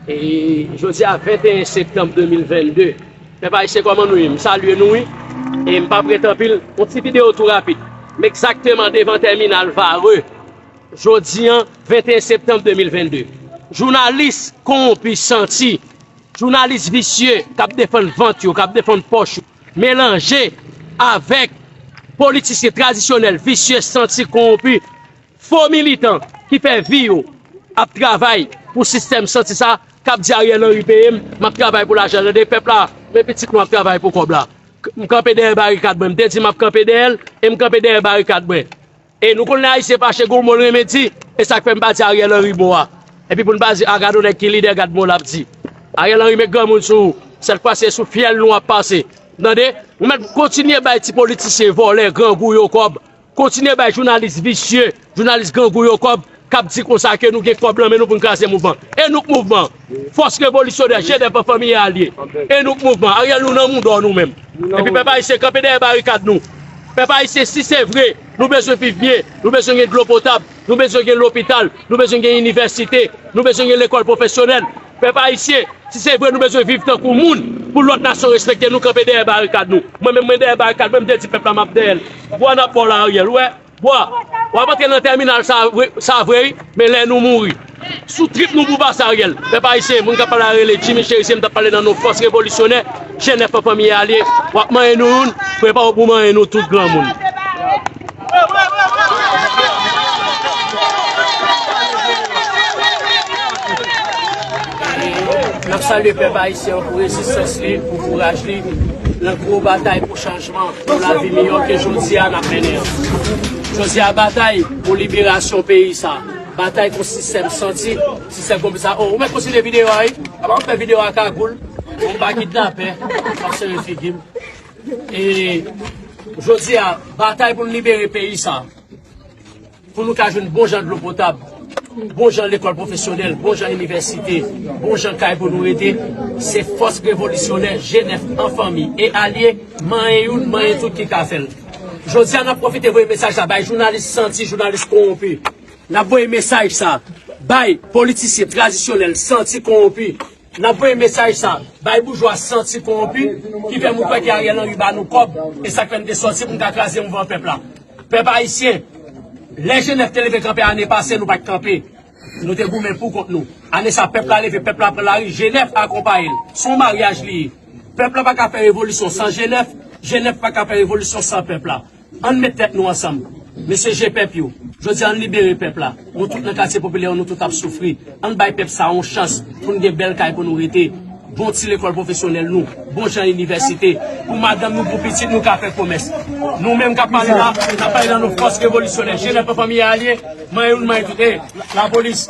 E jodi a 21 septanm 2022 Pèp ayisyen kòman nou ye m salye nou wi e m pap ret anpil yon ti videyo tou rapid m egzakteman devan tèminal vare jodi an 21 septanm 2022 jounalis kowonpi santi jounalis visye k ap defann vant yo k ap defann pòch yo melanje avèk politisyen tradisyonèl visye santi kowonpi Fo militan ki fè vi yo ap travay pou sistèm santi sa kap di Ariel Henry peyem map travay pou lajan tande pèp la men pitit nou ap travay pou kòb la m kanpe dèyè barikad mwen m te di map kanpe dèyèl e m kanpe dèyè barikad mwen e nou konn lè ayisyen fache gon mo l renmen di e sak fè m pa di Ariel Henry mo a epi pou n pa di a gad on nèg ki lidè gad mo lap di Ariel Henry met granmoun sou ou sèt fwa se sou fyèl nou ap pase tande nou mèt kontinye bay ti politisyen vòlè grangou yo kòb Kontinye bay jounalis visye, jounalis grangou yo kòb kap di konsa ke nou gen kòb lan men nou pou n kraze mouvman. E nou k mouvman? Fòs revolisyonè, je dè pèp fanmi e alye. E nou k mouvman? Ariel nou nan moudon nou menm. Epi pèp ayisyen kanpe dèyè barikad nou. Pèp ayisyen si se vre nou bezwen viv byen, nou bezwen gen dlo potab, nou bezwen gen lopital, nou bezwen gen inivèsite, nou bezwen gen lekòl pwofesyonèl, Pèp ayisyen, si se vre nou bezwen viv tankou moun, pou lòt nasyon respekte nou, kanpe dèyè barikad nou. Mwen menm mwen dèyè barikad mwen, m te di pèp la m ap dèyè l. Bwa n ap ba w la Ariel, ou wè? Bwa! W ap antre nan tèminal sa vre sa vre wi, men lè nou mouri. Sou trip nou pou pase Ariel. Pèp ayisyen, moun k ap pale a rele Jimmy Cherizier, m t ap pale nan non fòs revolisyonè, jenèf an fanmi e alye. W ap manyen nou youn, prepare w pou w manyen nou tout granmoun. Nap salye pèp ayisyen an pou rezistans li, pou kouraj li nan gwo batay pou chanjman, pou lavi miyò ke jodi a nap mennen an. Jodi a batay pou liberasyon peyi sa, batay kont sistèm santi, sistèm konplis sa. Oh ou mèt kontinye videyo a wi, aba m fè videyo a kagoul pou m pa kidnapè, m ap sere figi m. E jodi a, batay pou nou libere peyi sa, pou nou ka jwenn bon jan dlo potab, bon jan lekòl pwofesyonèl, bon jan inivèsite, bon jan kay pou nou rete, se fòs revolisyonè G9 an fanmi e alye, manyen youn, manyen tout ki ka fè l. Jodi a, n ap pwofite voye mesaj sa bay jounalis santi, jounalis kowonpi. N ap voye mesaj sa bay politisyen tradisyonèl santi, kowonpi, Nan voye mesaj sa bay boujwa santi kowonpi ki fè moun kwè ke Ariel Henry ba nou kòb e sak fè nou te sòti pou nou ka kraze mouvman pèp la. Pèp ayisyen, lè Jenèf te leve kanpe ane pase nou pat kanpe. Nou te goumen pou kont nou. Ane sa pèp la leve, pèp la pran lari, Jenèf akonpaye l. Se yon maryaj li ye. Pèp la pa ka fè revolisyon san Jenèf, Jenèf pa ka fè revolisyon san pèp la. Ann met tèt nou ansanm mesye je pèp yo jodi ann libere pèp la nou tout nan katye popilè yo nou tout ap soufri ann bay pèp sa yon chans poun gen bèl kay pou nou rete bon ti lekòl pwofesyonèl nou bon jan inivèsite pou madanm nou pou pitit nou ka fè komès nou menm kap pale la nap pale nan non fòs revolisyonè jenès pran fanmi alye man youn man tout e lapolis.